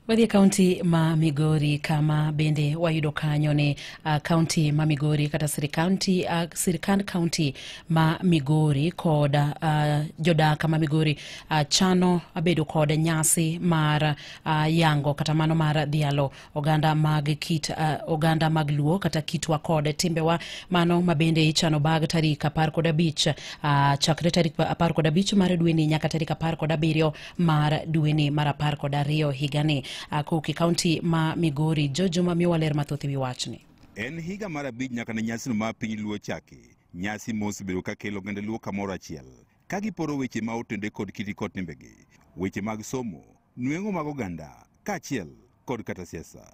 Wadhi e kaunti ma Migori kama bende wayudo kanyo ni uh, kaunti ma Migori kata sirikand uh, sirikand kaunti ma Migori kod uh, jodak ma Migori uh, chano bedo kod nyasi mar uh, yango kata mano mar dhialo oganda mag kit uh, oganda mag luo kata kitwa kod timbewa mano mabende ichano bag tarik apar kod abich uh, chakre tarik apar kod abich mar dweni nyaka tarik apar kod abiriyo mar dweni mar apar kod ariyo higani uh, kuki kaunti ma migori jojuma miwa ler mathoth e wi wachni en higa mar abich nyaka ne nyasino ma piny luo chaki nyasi mosebedo ka kelo oganda luo kamoro achiel ka giporo weche ma otende kod kiti kod timbegi, weche mag somo, nweng'o mag oganda, kaachiel kod kata siasa.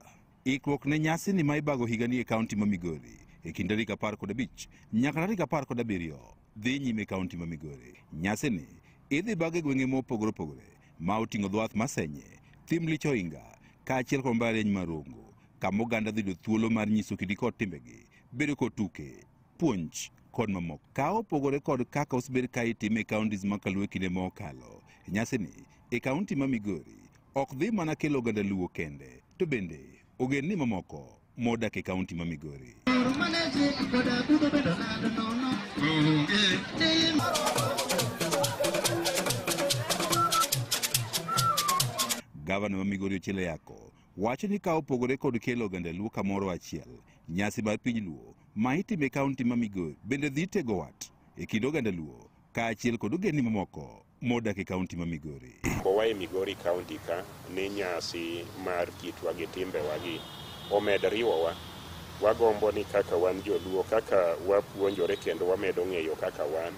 Ikruok ne nyasi ni ma ibago higani e kaunti ma Migori e kind tarik apar kod abich nyaka tarik apar kod abiriyo dhi nyime e kaunti ma Migori. Nyasini idhi bag e gwenge mopogore opogore ma oting'o dho wath ma Senye, Thim Lich Ohinga, kaachiel kod mbalariany ma Rongo, kama oganda dhi yudo thuolo mar nyiso kidi kod timbegi, bedo kod tuke, puonj kod mamoko. Ka opogore kod kaka osebed ka itime e counties ma kaluo e kinde ma okalo, e nyasini e kaunti ma Migori ok dhi mana kelo oganda Luo kende, to bende ogendni mamoko modak e kaunti ma Migori. Gavana ma Migori Ochilo Yako wacho ni ka opogore kod kelo oganda Luo kamoro achiel, nyasi mar piny Luo ma itimo e kaunti ma Migori bende dhi tego wat e kind oganda Luo kaachiel kod ogendni mamoko modak e kaunti ma Migori. Kowa e Migori kaunti ka ni nyasi mar kitwa gi timbewagi omed riwowa. Wagombo ni kaka wan joluo, kaka wapuonjore kendo wamedo ng'eyo kaka wan,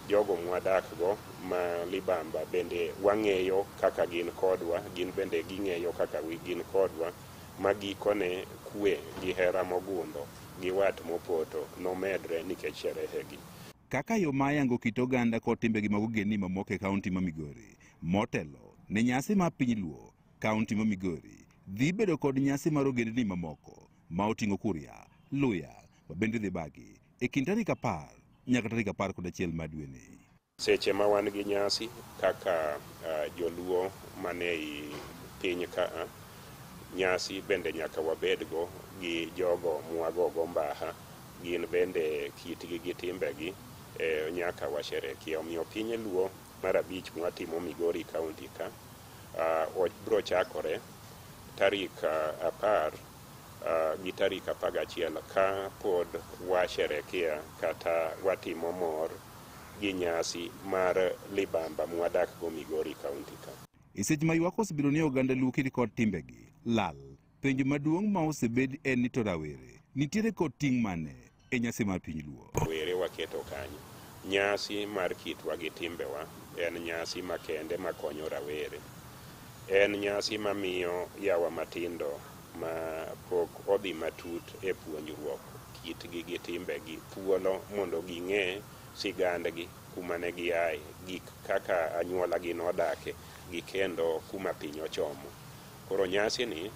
Jogo mwadakgo ma libamba bende wang'eyo kaka gin kodwa, gin bende ging'eyo kaka gin kodwa, ma gikone kue gi hera mogundho gi wat mopoto nomedre nikech sherehegi. Kaka yo ma yango kit oganda kod timbegi mag ogendni mamoko e kaunti ma Migori. Motelo ne nyasi ma piny Luo, kaunti ma Migori dhi bedo kod nyasi mar ogendni mamoko ma oting'o Kuria, Luya, ma bende dhi bagi e kind tarik apar nyaka tarik apar kod achiel ma dweni. Seche ma wan gi nyasi kaka uh, joluo man ei piny ka uh, nyasi bende nyaka wabedgo gi jogo mwagogo mbaha gin bende kitgi gi timbegi eh, nyaka washerekia. Omiyo piny luo mar abich mwatimo Migori kaunti ka uh, biro chakore tarik uh, apar gi tarik apar gachiel ka pod washerekea kata watimo mor gi nyasi mar libamba mwadak go Migori County ka. E seche ma ywak osebedo ni oganda Luo kiri kod timbegi lal, penjo maduong' ma osebed en ni to rawere nitiere kod ting' mane? e nyasi mar piny luo. Were waketo kanyo. Nyasi mar kitwa gi timbewa en nyasi makende makonyo rawere. En nyasi mamiyo yawa matindo ma pok odhi matut e puonjruok kitgi gi timbegi thuolo mondo ging'e sigandgi, kuma ne giaye, gik kaka anyuolagi nodake gi kendo kuma piny ochomo. Koro nyasini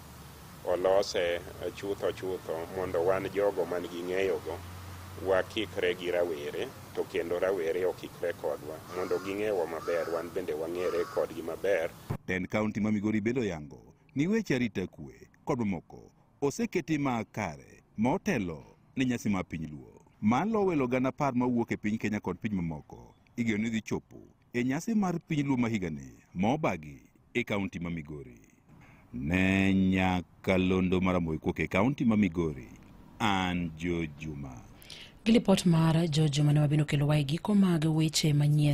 olose chutho chutho mondo wan jogo man gi ng'eyogo wakikre gi rawere to kendo rawere okikre kodwa mondo ging'ewa maber wan bende wang'ere kodgi maber. Tend kaunti ma Migori bende oyango ni weche arita kwe kod mamoko oseketi ma kare ma otelo ne nyasi mar piny Luo. Malo welo gana apar mawuok e piny Kenya kod piny mamoko igeno ni dhi chopo e nyasi mar piny Luo ma higani ma obagi e kaunti ma Migori. Ne Nyakalondo Maramoe Kuok e kaunti ma Migori, an Joe Juma. Gi lipot mar Joe Juma ne wabino kelowae giko mag weche manyien.